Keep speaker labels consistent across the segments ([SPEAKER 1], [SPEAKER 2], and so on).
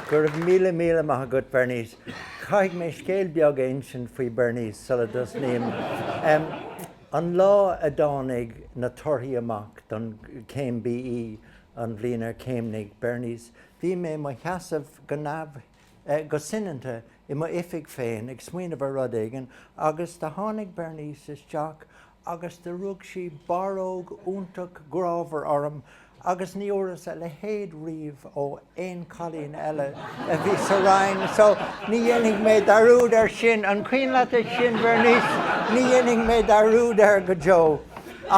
[SPEAKER 1] Go raibh míle míle maith agat Bernice. Caithfidh mé scéal beag a insint faoi Bernice sula dtosnaím. An lá a dtáinig na torthaí amach don chéim BE an bhliain ar chéimnigh Bernice, bhí mé i mo sheasamh go neamh, go soineanta i m'oifig féin ag smaoineamh ar rud éigin agus do tháinig Bernice isteach agus do rug sí barróg iontach grámhar orm agus ní fhuaireas a leithéid riamh ó aon chailín eile a bhí sa rang so ní dhéanfaidh mé dearúd air sin, an cuimhin leat é sin Bhernice? ní dhéanfaidh mé dearúd air go deo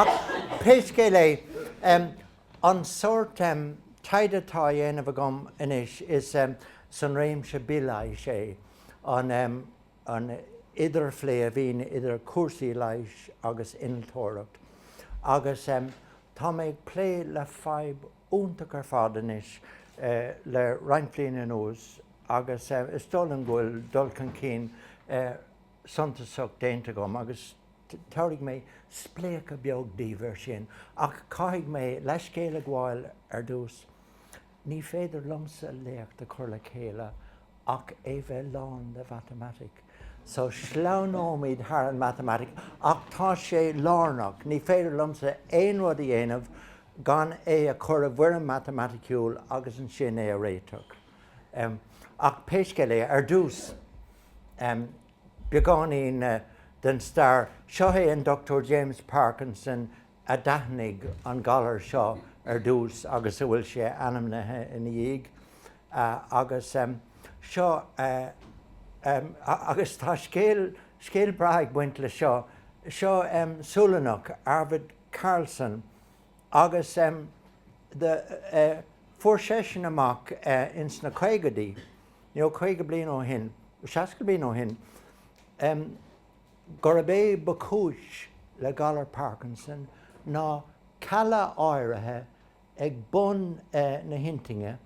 [SPEAKER 1] ach pé scéal é em an sórt em taighde atá a dhéanamh agam anois is em san réimse bileighis é an em an idirphlé a bhíonn idir cúrsaí leighis agus innealtóireacht agus tá mé ag plé le fadhb iontach ar fad anois le roinnt bliana anuas agus is dóigh liom go bhfuil dul chun cinn suntasach déanta agam agus tabharfaidh mé spléachadh beag daoibh air sin ach caithfidh mé leithscéal a ghabháil ar dtús. Ní féidir liomsa léacht a chur le chéile gan é bheith lán le mhatamaitic, so sleamhnóimid thar an matamaitic ach tá sé lárnach, ní féidir liomsa aon rud a dhéanamh gan é a chur i bhfoirm matamaiticiúil agus ansin é a réiteach. Ach pé scéal é, ar dtús, beagáinín den stair, seo é an Dr. James Parkinson, a d'aithnigh an galar seo ar dtús agus a bhfuil sé ainmnithe ina dhiaidh agus seo agus tá scéal scéal breá ag baint le seo seo Sualannach Arvid Carlsson agus do fuair seisean amach ins na caogaidí nó caoga bliain ó shin seasca bliain ó shin gurb é ba chúis le galar Parkinson ná cealla áirithe ag bun na hinchinne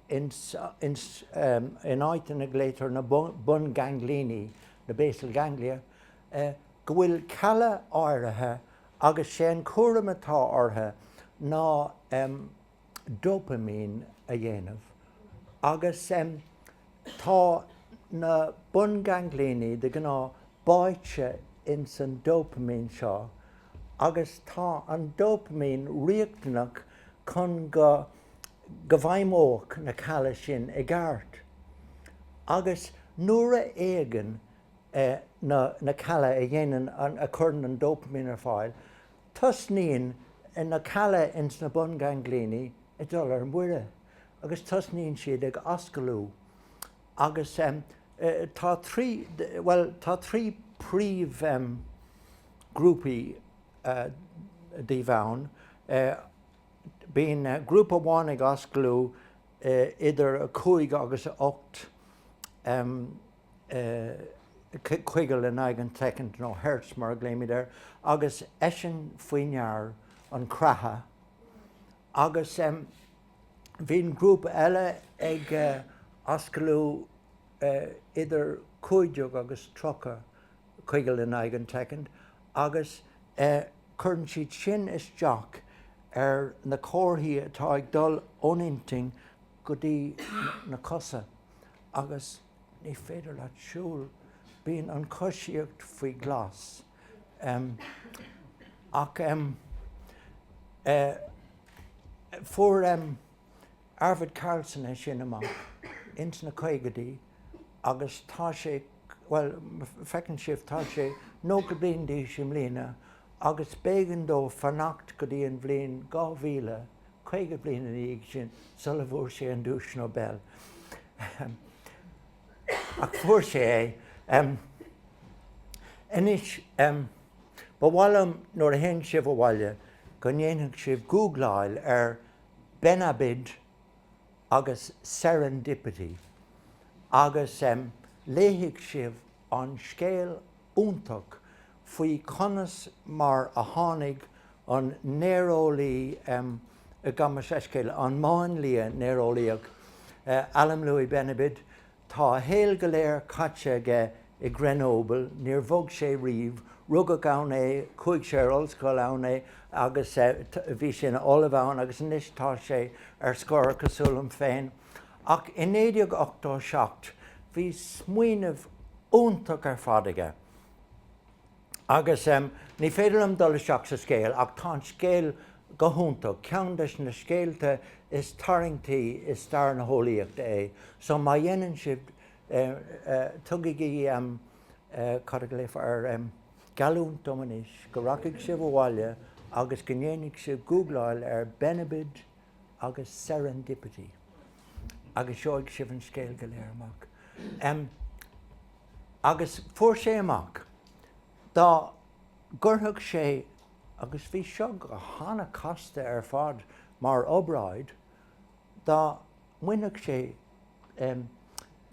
[SPEAKER 1] in áit a nglaotar na bunganglioní, na basal ganglia, go bhfuil cealla áirithe agus sé an cúram atá orthu ná dopaimín a dhéanamh agus tá na bungainglíní de ghnáth báite ins an dopaimín seo agus tá an dopaimín riachtanach chun go go bhfeidhmeoidh na cealla sin i gceart agus nuair a éagann na na cealla a dhéanann a chuireann an dopaimín ar fáil Tosnaíonn na cealla ins na bungainglíní ag dul ar mire agus tosnaíonn siad ag ascalú agus tá trí, bhuel tá trí príomh grúpaí díobh ann. Bíonn grúpa amháin ag ascalú idir a cúig agus a ocht ciogal in aghaidh an tsoicind, nó hertz mar a ghlaoimid air, agus is é sin faoi ndear an creatha agus bíonn grúpa eile ag ascalú idir cúig déag agus tríocha ciogal in aghaidh an tsoicind agus cuireann siad sin isteach ar na comharthaí atá ag dul ón inchinn go dtí na cosa agus ní féidir leat siúl, bíonn an choisíocht faoi ghlas, em, ach em, eh, fuair em, Arvid Carlsson é sin amach ins na caogaidí agus tá sé, bhuel, feiceann sibh, tá sé nócha bliain d'aois i mbliana agus b'éigean dó fanacht go dtí an bhliain dhá mhíle 50 bliain ina dhiaidh sin sula bhfuair sé an duais Nobel, ahem, ach fuair sé é. Anois, ba mhaith liom nuair a théann sibh abhaile go ndéanfadh sibh googláil ar Benabid agus serendipity agus léifidh sibh an scéal iontach faoi conas mar a tháinig an néareolaí, gabh mo leithscéal, an máinlia néareolaíoch eh Alim Louis Benabid, tá a shaol go léir caite aige i Grenoble, níor bhog sé riamh, rugadh ann é, chuaigh sé ar ollscoil ann é agus eh bhí sé ina ollamh ann agus anois tá sé ar scor cosúil liom féin. ach i 1987 bhí smaoineamh iontach ar fad aige agus ní féidir liom dul isteach sa scéal ach tá an scéal go hiontach, ceann des na scéalta is tarraingtí i stair na heolaíochta é so má dhéanann sibh tugaigí cad a ghlaofá air, geallúint dom anois go rachaidh sibh abhaile agus go ndéanfaidh sibh gúgláil ar Benabid agus serendipity agus gheobhaidh sibh an scéal go léir amach. Agus fuair sé amach dá gcuirfeadh sé, agus bhí seo an-chasta ar fad mar obráid, dá mbainfeadh sé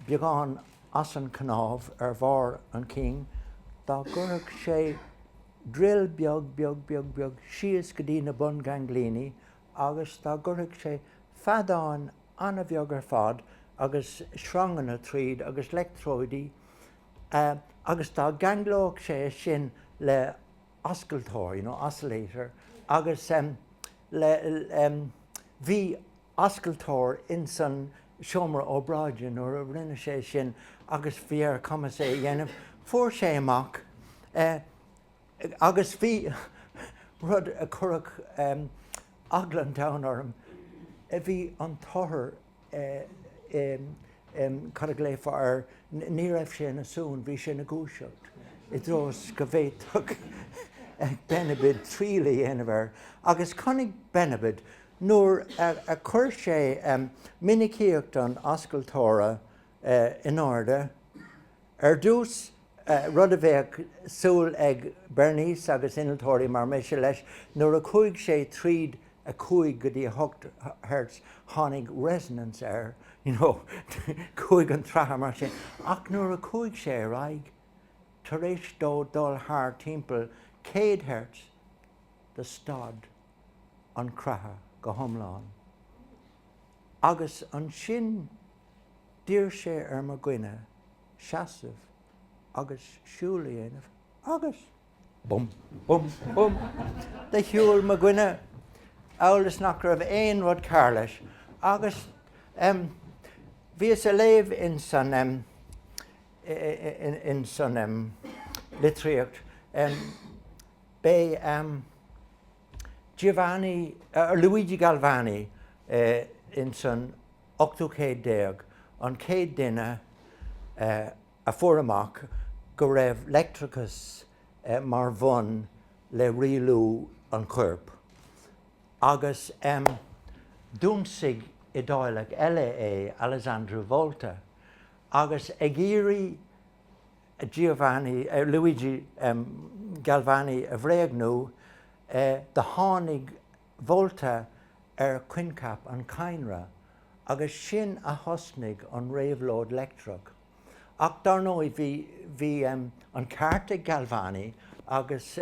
[SPEAKER 1] beagán as an chnámh ar bharr an chinn, dá gcuirfeadh sé drill beag, beag, beag, beag síos go dtí na bun-ghainglíní agus dá gcuirfeadh sé feadán an-bheag ar fad agus sreanganna tríd agus leictreoidí agus dá gceanglódh sé é sin le hascaltóir, you know, oscillator, agus le, bhí ascaltóir in san seomra obráide nuair a rinne sé é sin agus bhí ar a chumas é a dhéanamh, fuair sé amach eh, agus bhí rud a chuirfeadh eagla an domhain orm, bhí an t-othar, cad a ghlaofá air, ní raibh sé ina suan, bhí sé ina dhúiseacht i dtreo is go bhféadfadh Benabid triail a dhéanamh air. Agus chonaic Benabid, nuair a chuir sé minicíocht an ascaltóra in airde ar dtús, rud a bheadh súil ag Bernice agus innealtóirí mar mise leis. Nuair a chuaigh sé tríd 5 go dtí 8 hertz tháinig resonance air, you know, chuaigh an creathadh mar sin, ach nuair a chuaigh sé ar aghaidh, tar éis dó dul thar timpeall 100 hertz do stad an creathadh go hiomlán. Agus ansin d'iarr sé ar mo dhuine. seasamh agus siúl a dhéanamh agus, bum, bum, bum, do shiúl mo dhuine amhail is nach raibh aon rud cearr leis agus, em, bhíos a' léamh ins an, em, ins an, em, litríocht, em, b'é, em, Giovanni, Luigi Galvani ins an ochtú céad déag an chéad duine a fuair amach go raibh leictreachas mar bhonn le rialú an choirp agus d'ionsaigh Iodáileach eile é, Alessandro Volta agus ag iarraidh Giovanni, Luigi Galvani a bhréagnú, do tháinig Volta ar choincheap an chadhnra agus sin a thosnaigh an réabhlóid leictreach. Ach dar ndóigh bhí an ceart ag Galvani agus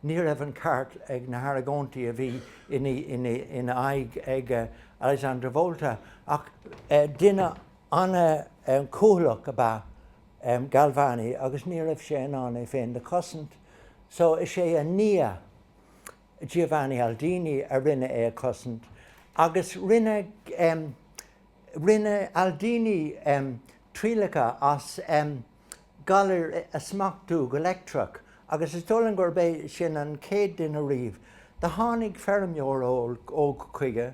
[SPEAKER 1] ní raibh an ceart ag na hargóintí a bhí ina aghaidh ag Alessandro Volta ach deineadh An-chúthaileach ab ea Galvani agus ní raibh sé in ann é féin do chosaint so is é a nia Giovanni Aldini, rinne é a chosaint agus rinne Aldini trialacha as galair a smachtú go leictreach agus is dóigh liom gurb é sin an chéad duine riamh. Do tháinig feirmeoir óg chuige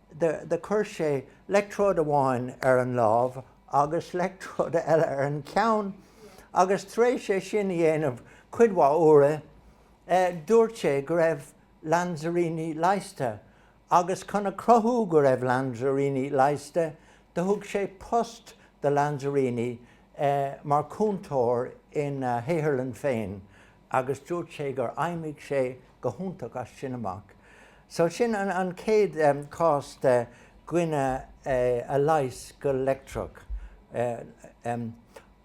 [SPEAKER 1] do chuir sé leictreoid amháin ar an lámh agus leictreoid eile ar an cheann agus tar éis é sin a dhéanamh cuid mhaith uaire dúirt sé go raibh Lanzarini leigheasta agus chun a chruthú go raibh Lanzarini leigheasta do thug sé post do Lanzarini mar chúntóir ina shaotharlann féin agus dúirt sé gur fheidhmigh sé go hiontach as sin amach. So sin an chéad chás de dhuine a leigheas go leictreach.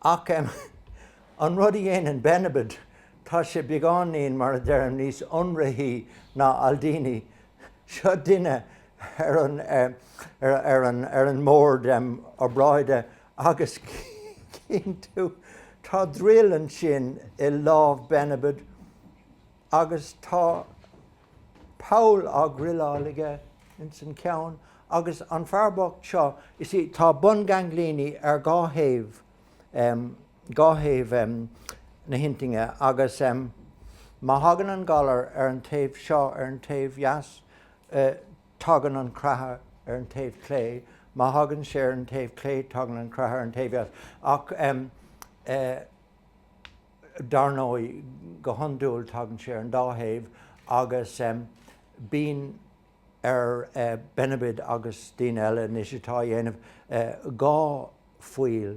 [SPEAKER 1] Ach an rud a dhéanann Benabid, tá sé beagáinín, mar a deirim, níos ionraithí ná Aldini. Seo duine ar an mbord obráide agus cinntiú tá druil ansin i lámh Benabid agus tá poll á dhruileáil aige ins an ceann agus an fear bocht seo you see tá bunghainglíní ar dhá thaobh na hinchinne agus má thagann an galar ar an taobh seo ar an taobh dheas tagann an craitheadh ar an taobh clé, má thagann sé ar an taobh clé tagann an craitheadh ar an taobh dheas ach dar ndóigh go hiondúil tagann sé ar an dá thaobh agus bíonn ar Benabid agus daoine eile anois atá á dhéanamh dhá phoill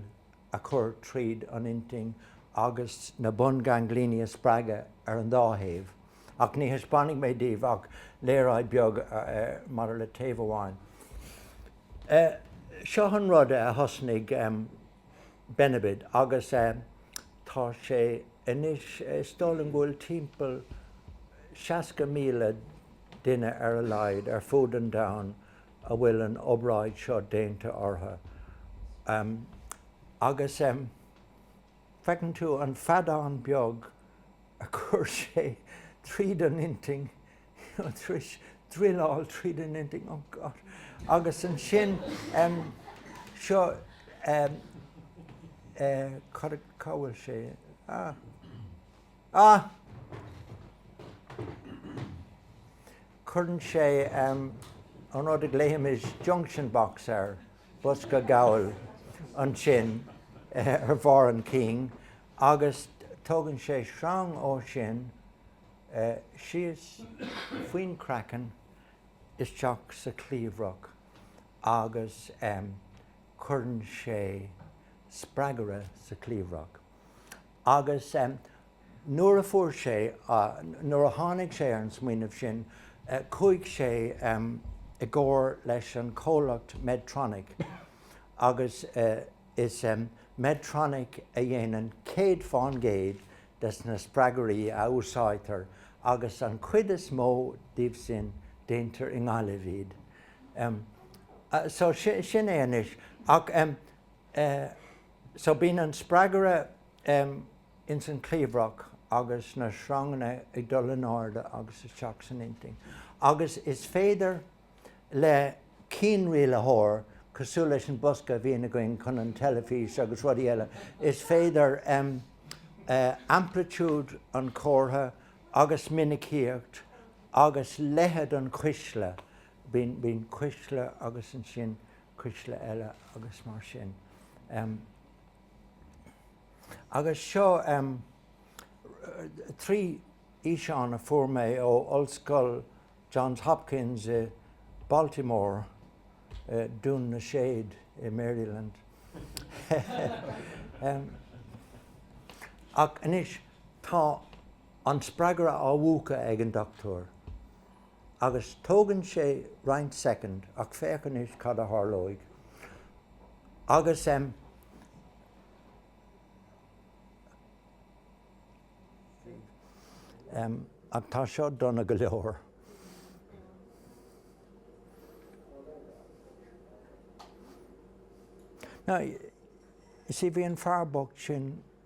[SPEAKER 1] a chur tríd an inchinn agus na bunghainglíní a spreagadh ar an dá thaobh ach ní thaispeánfaidh mé daoibh ach léaráid beag maidir le taobh amháin. Seo an rud a thosnaigh Benabid agus tá sé anois, is dóigh liom go bhfuil timpeall 60,000 duine ar a laghad ar fud an domhain a bhfuil an obráid seo déanta ortha agus feiceann tú an feadán beag a chuir sé tríd an intinn druileáil tríd an intinn oh god agus ansin seo cá bhfuil sé ah ah Cuireann sé an rud a glaoimid junction box air, bosca gabhail ansin ar bharr an chinn, agus tógann sé sreang ó sin síos faoin craiceann isteach sa chliabhrach agus cuireann sé spreagaire sa chliabhrach. Agus nuair a fuair sé, nuair a tháinig sé ar an smaoineamh sin, chuaigh sé i gcomhar leis an chomhlacht Medtronic agus is Medtronic a dhéanann 100 fán gcéad des na spreagairí a úsáidtear agus an chuid is mó díobh sin déantar i nGaillimh iad. So sin é anois. Ach eh. So bíonn an spreagaire ins an cliabhrach agus na sreanganna ag dul in airde agus isteach san intinn agus is féidir le cianrialaitheoir, cosúil leis an bosca a bhíonn againn chun an teilifís agus rudaí eile, is féidir amplitiúid an chomhartha agus minicíocht agus leithead an chuisle, bíonn cuisle agus ansin cuisle eile agus mar sin. Agus seo trí fhíseán a fuair mé ó Ollscoil Johns Hopkins i Baltimore, Dún na Séad i Maryland. Ach anois tá an spreagaire á mhúchadh ag an Dr. Agus tógann sé roinnt soicind ach féach anois cad a tharlóidh agus em em ach tá seo dona go leor. Now, you see, bhí an fear bocht sin.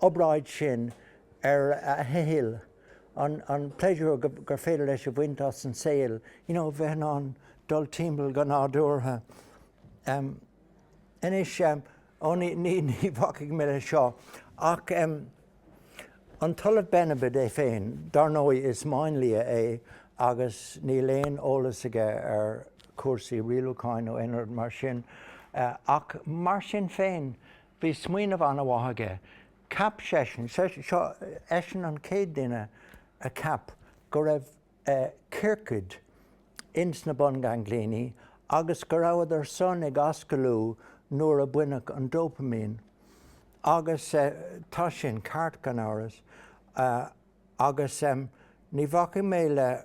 [SPEAKER 1] obráid sin ar a shaol, an pléisiúr gur féidir leis a bhaint as an saol, you know bheith in ann dul timpeall go nádúrtha. Anois, ó ní bhacfaidh mé leis seo, ach an tOllamh Benabid é féin, dar ndóigh is máinlia é agus níl aon eolas aige ar chúrsaí rialúcháin nó aon rud mar sin, ach mar sin féin, Bhí smaoineamh an-mhaith aige. Cheap seisean, seo eisean an chéad duine a cheap go raibh ciorcaid ins na bun-ganglioní agus go rabhadar sin ag ascalú nuair a baineadh an dopaimín. Agus tá sin ceart gan amhras agus ní bhacfaidh mé le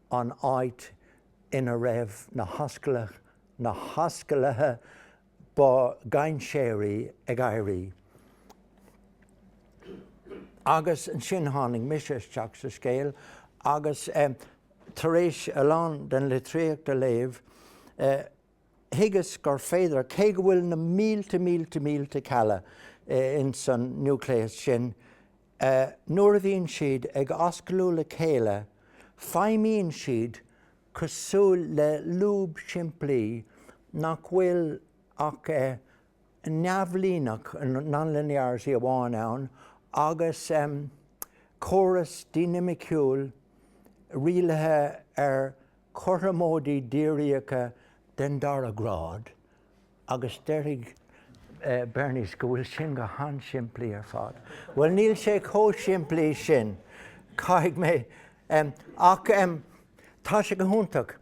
[SPEAKER 1] an áit ina raibh na hascal, na hascaluithe ba dhainséaraí ag éirí. Agus ansin tháinig mise isteach sa scéal agus tar éis a lán den litríocht a léamh, thuigeas gur féidir, cé go bhfuil na mílte mílte mílte cealla ins an núicléas sin, nuair a bhíonn siad ag ascalú le chéile feidhmíonn siad cosúil le lúb simplí nach bhfuil ach neamhlíneach, non-linearity, amháin ann agus córas dinimiciúil rialaithe ag cothromóidí difreálacha den dara grád agus déarfaidh Bernice go bhfuil sin go han-simplí ar fad. Bhuel, níl sé chomh simplí sin, caithfidh mé, ach tá sé go hiontach.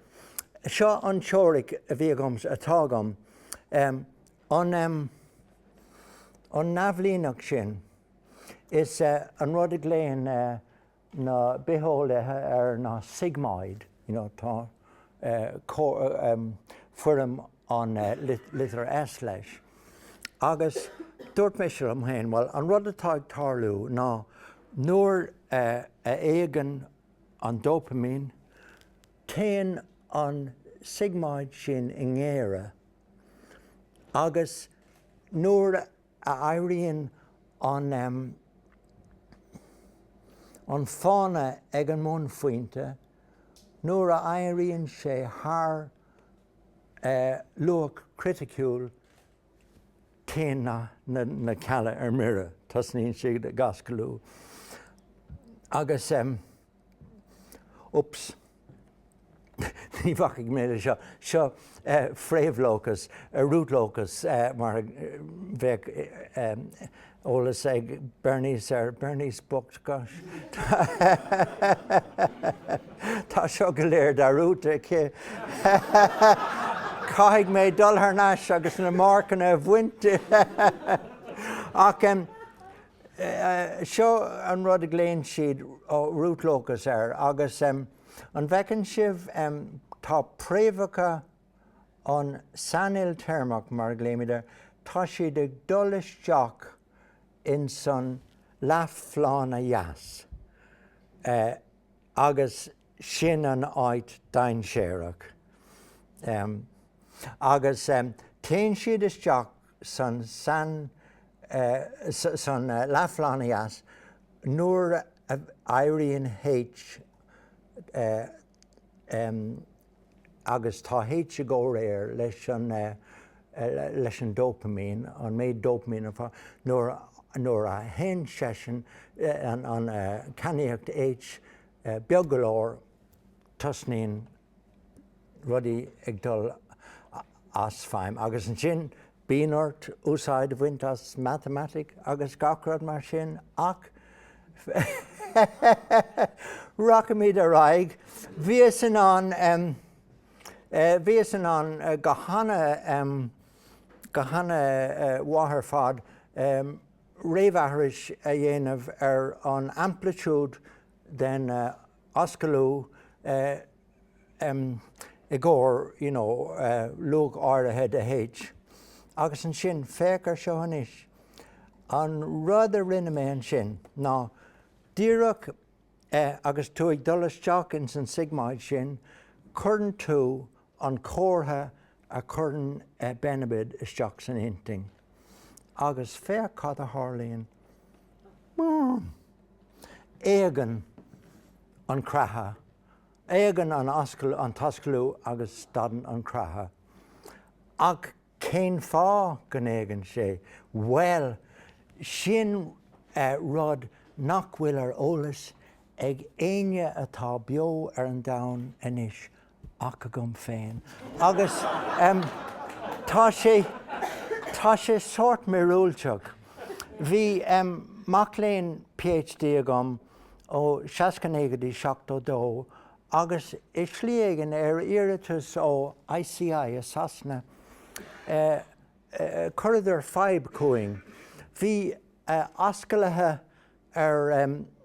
[SPEAKER 1] Seo an teoiric a bhí agam, atá agam, an neamhlíneacht sin is an rud a ghlaonn na bitheolaithe air ná sigmoid, tá foirm an litir S leis, agus dúirt mise liom féin, bhuel, an rud atá ag tarlú ná nuair a éagann an dopaimín, téann an sigmoid sin i ngéire agus nuair a. a éiríonn an an fána ag an mbunphointe nuair a éiríonn sé thar luach criticiúil téann na cealla ar mire, tosnaíonn siad ag ascalú agus. Oops. Ní bhacfaidh mé le seo. Seo fréamhlócas, root locus, mar a bheadh eolas ag Bernice air. Bernice bocht, gosh. Tá seo go léir de root aici. Caithfidh mé dul thar n-ais agus na marcanna a bhaint di. Ach em, Seo an rud a ghlaonn siad root locus air agus an bhfeiceann sibh tá préamhacha an sainiltéarmach mar a ghlaoimid air, tá siad ag dul isteach insan leathphlána dheas agus sin an áit dainséarach. Agus téann siad isteach san leathphlána dheas nuair a éiríonn H agus tá H i gcomhréir leis an dopaimín, an méid dopaimín atá, nuair a théann seisean, an cainníocht H Beag go leor, tosnaíonn rudaí ag dul as feidhm agus ansin bíonn ort úsáid a bhaint as matamaitic agus gach rud mar sin ach rachaimid ar aghaidh. Bhíos in ann em, eh, bhíos in ann eh, go hana em, go hana eh, mhaith ar fad em, réamhaithris a dhéanamh ar an aimplitiúd den ascalú i gcomhair you know luach áirithe de H agus ansin féach ar seo anois, an rud a rinne mé ansin ná díreach é agus tú ag dul isteach ins an sigmáid sin cuireann tú an comhartha a chuireann Benabid isteach san inchinn agus féach cad a tharlaíonn. Búm! Éagann an creathadh, éagann an an t-ascalú agus stadann an creathadh. Ach Cén fáth go n-éagann sé? Bhuel, sin rud nach bhfuil ar eolas ag éinne atá beo ar an domhan anois ach agam féin. Agus tá sé, tá sé sórt míorúilteach. Bhí mac léinn PhD agam ó seasca naoi go dtí seachtó dó agus i slí éigin, ar iarratas ó ICI a Sasana, chuireadar fadhb chugainn, bhí ascaluithe ar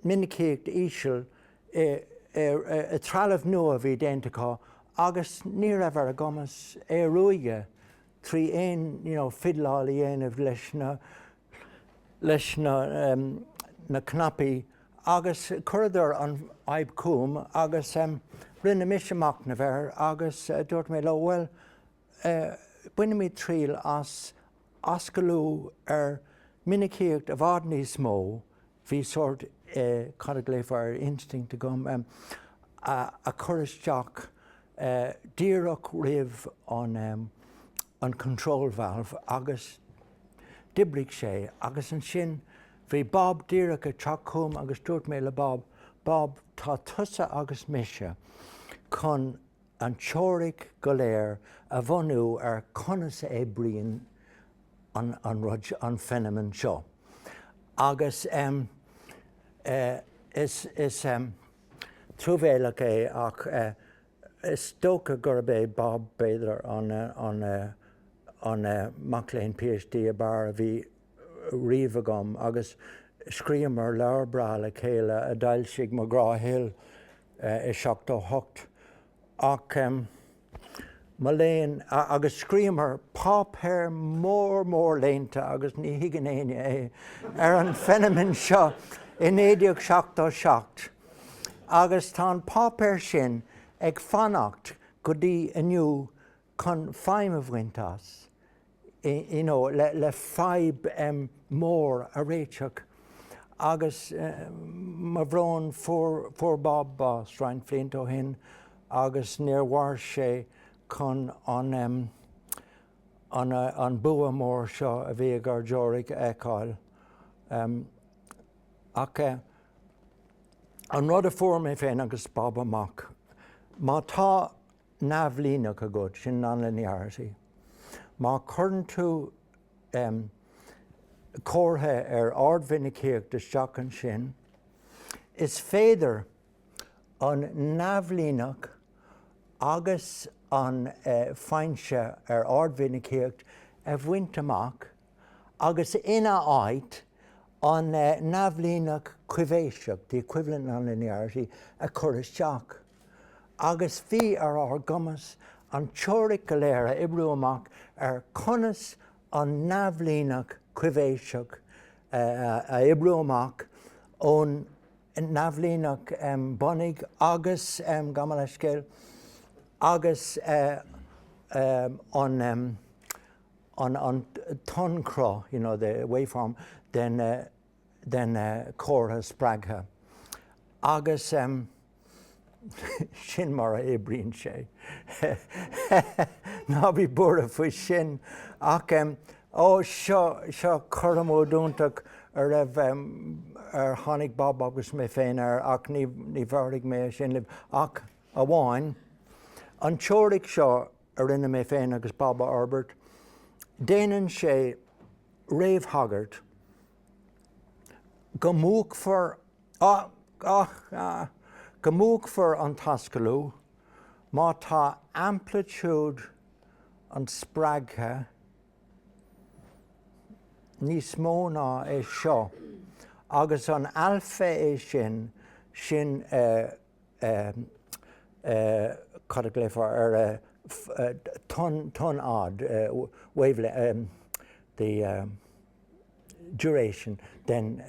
[SPEAKER 1] mhinicíocht íseal i dtrealamh nua a bhí déanta acu agus ní raibh ar a gcumas é a ruaigeadh trí aon you know fidleáil a dhéanamh leis na leis na em na cnaipí agus chuireadar an fhadhb chugam agus em rinne mise machnamh air agus dúirt mé leo bhuel eh bainfimid triail as ascalú ar minicíocht i bhfad níos mó Bhí sórt, cad a ghlaofá air, instinct agam a chur isteach díreach roimh an control valve agus d'oibrigh sé agus ansin bhí Bob díreach ag teacht chugam agus dúirt mé le Bob, Bob, tá tusa agus mise chun an teoiric go léir a bhunú ar conas a oibríonn an an rud an feiniméan seo agus em is is em truamhéalach é ach eh is dócha gurb é Bob b'fhéidir an an an mac léinn PhD ab fhearr a bhí riamh agam agus scríobhamar leabhar breá le chéile a d'fhoilsigh McGraw Hill i seachtó hocht ach, mo léan, agus scríobhamar páipéar mór mór léannta, agus ní thuigeann éinne é, ar an feiniméan seo i naoi déag seachtó seacht agus tá an páipéar sin ag fanacht go dtí inniu chun feidhm a bhaint as you know le fadhb mhór a réiteach agus mo bhrón fuair fuair Bob bás roinnt bhlianta ó shin agus níor mhair sé chun an em an an bua mór seo a bhí ag ár dteoiric a fheiceáil em ach eh an rud a fuair mé féin agus Bob amach má tá neamhlíneach agat, sin non-linearity. Má chuireann tú em comhartha ar ardmhinicíocht isteach ansin, is féidir an neamhlíneach agus an eh foinse ar ardmhinicíocht a bhaint amach, agus ina áit, an neamhlíneach coibhéiseach, the equivalent nonlinearity, a chur isteach, agus bhí ar ár gcumas an teoiric go léir a oibriú amach ar conas an neamhlíneach coibhéiseach a oibriú amach ón neamhlíneach bunaidh agus, gabh mo leithscéal, agus an. an tonnchruth, you know, the waveform, den chomhartha spreagtha agus sin mar a oibríonn sé. Ná bí buartha faoi sin ach ó seo, seo cothromóid iontach a raibh, ar tháinig Bob agus mé féin air ach ní, ní bheartaigh mé é sin libh ach amháin an teoiric seo, a rinne mé féin agus Bob a fhorbairt, déanann sé réamhthagairt go múchfar go múchfar an t-ascalú má tá aimplitiúid an spreagtha níos mó ná é seo, agus an alfa é sin, sin. cad a ghlaofá air, tonnfhad wavelength the duration den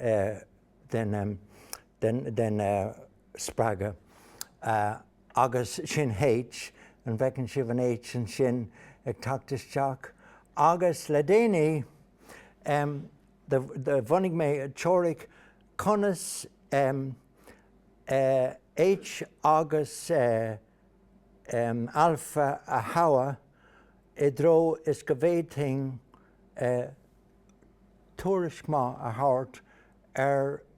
[SPEAKER 1] den spreagadh agus sin H, an bhfeiceann sibh an H ansin ag teacht isteach? Agus le déanaí. Bhunaigh mé teoiric conas H agus alfa a thoghadh i dtreo is go bhféadfainn tuairisc maith a thabhairt ar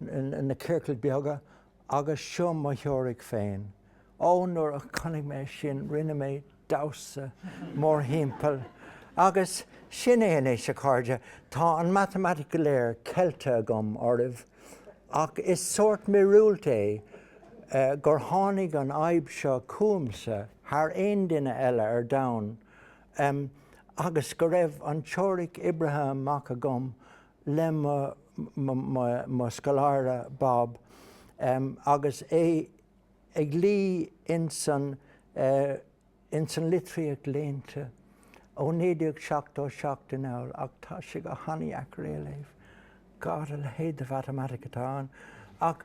[SPEAKER 1] na ciorcail beaga agus seo mo theoiric féin. Ó, nuair a chonaic mé sin rinne mé damhsa mórthimpeall. Agus sin é anois, a chairde, tá an matamaitic go léir ceilte agam oraibh, ach is sórt míorúilt é gur tháinig an fhadhb seo chugamsa thar aon duine eile ar domhan, agus go raibh an teoiric oibrithe amach agam le mo scoláire Bob agus é ag luí ins an litríocht léannta ó 1977 anall ach tá sé go han-dheacair é a léamh. God, a leithéid de mhatamaitic atá ann! Ach.